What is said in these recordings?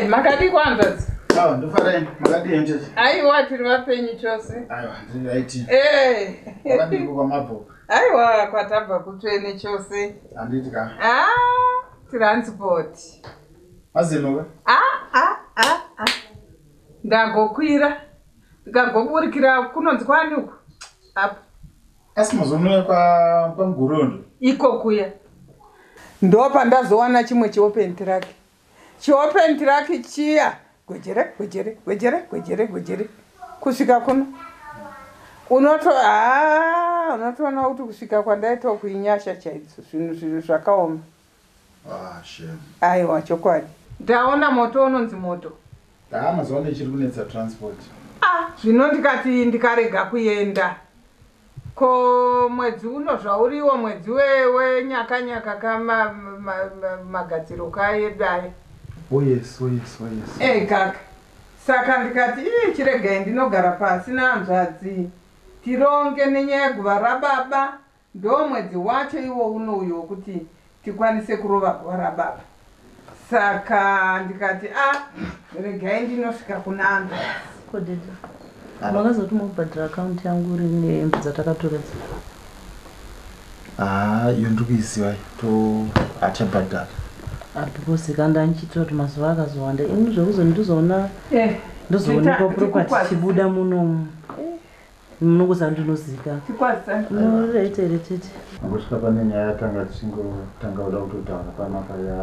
makadii kwanzvadzi awa ndofarai makadii henjezi aiwa tiri vapenyu chose aiwa ndiri raiti eh. akadiko kwamabho aiwa kwatabva kutsvene chose handiti ka ah, transport mazenoka ah, ah, ah, ah. ndagokwira ndikagoburikira kunonzi kwani uku apo asi mazonoya kwamugorondo iko kuya ndopandazowana chimwe chiopen trake Chiopen track chiya gwejere gwejere gwejere gwejere gwejere kusvika kuno unoto haa unotoona kuti kusvika kwandaita uku inyasha chaidzo zvinhu zvinhu zvakaoma aiwa chokwadi ndaona moto unonzi moto Haa mazuva ano ichiri kunetsa transport. Ah zvino ndikati ndikarega kuenda ko mwedzi uno zvauriwo mwedzi we we nyaka nyaka ka ma ma ma magadziro ka edu aya. Oh yes oh yes oh yes. Eeh kaka saka ndikati iih chiregai ndinogara pasi nahanzvadzi tironge nenyaya yeguva rababa Ndoo mwedzi wacho iwo uno uyo wekuti tikwanise kurova bhora baba saka ndikati ah regai ndinosvika kuna Andreas. Ko daddy ava vakazoti mobhadhara account yangu rini nehembe dzatakatora dzi. Haa iyo ndiri kuiziva iyo to achabhadhara. Ah because ka ndandichiitira kuti mazuva akazowanda ini zvekuzoti ndizoona Eh ndozoonekwa property ichibuda munomu. Munongoziva ndinozivikanwa. Rete retete. Angosvika pane nyaya yatanga tichingotanga kuda kutotaura pamapa ya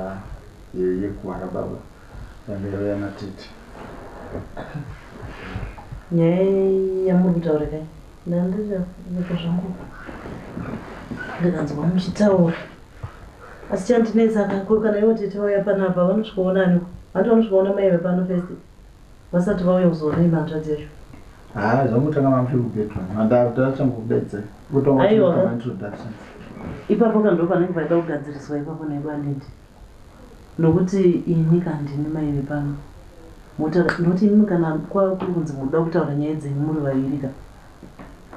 yekuhara baba yanga yave yana tete. Nyaya yamuri kutaura kai? Ndandichafika zvangu ndikanzwa muchitaura asi chandinetsa ko kana ivo tete vauya panapa vanosvika kuona aniko? Vanoti vanosvika kuona mai vepano first. Vasati vauya kuzoona imba hanzvadzi yacho. Haa zvangotanga mamushe kubedroom. Handava kuti achangobeedza. Kutanga Aiwa kuita ka. maintroductions. Ipapo ka ndopanenge paida kugadziriswa ipapo naibu Anedi. Nokuti ini ka ndini mai vepano. Motaura nokuti imimi kana kwava kuri kunzi muri kuda kutaura nyaya dzenyu muri vaviri ka.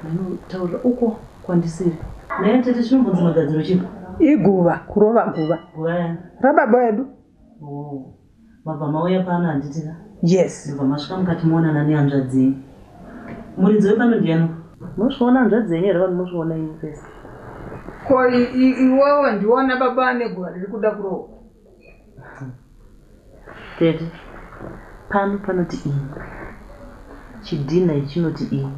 Mainotaurira uko kwandisiri. Nhai atete chinombonzi magadziro chii. Iguva, kurova guva. Guva yani. Rababa vedu. Hoo. Mabva mauya pano handiti ka? Yes. Ndobva masvika mukati moonana nehanzvadzi yenyu. Muridzi wepano ndiani uyu? Mosviona hanzvadzi yenyu here vanhu mosviona imi pese? Ko iwewe ndiona baba ane guva riri kuda kurohwa. Tete, pano panoti imi. Chidhinha ichi chinoti imi.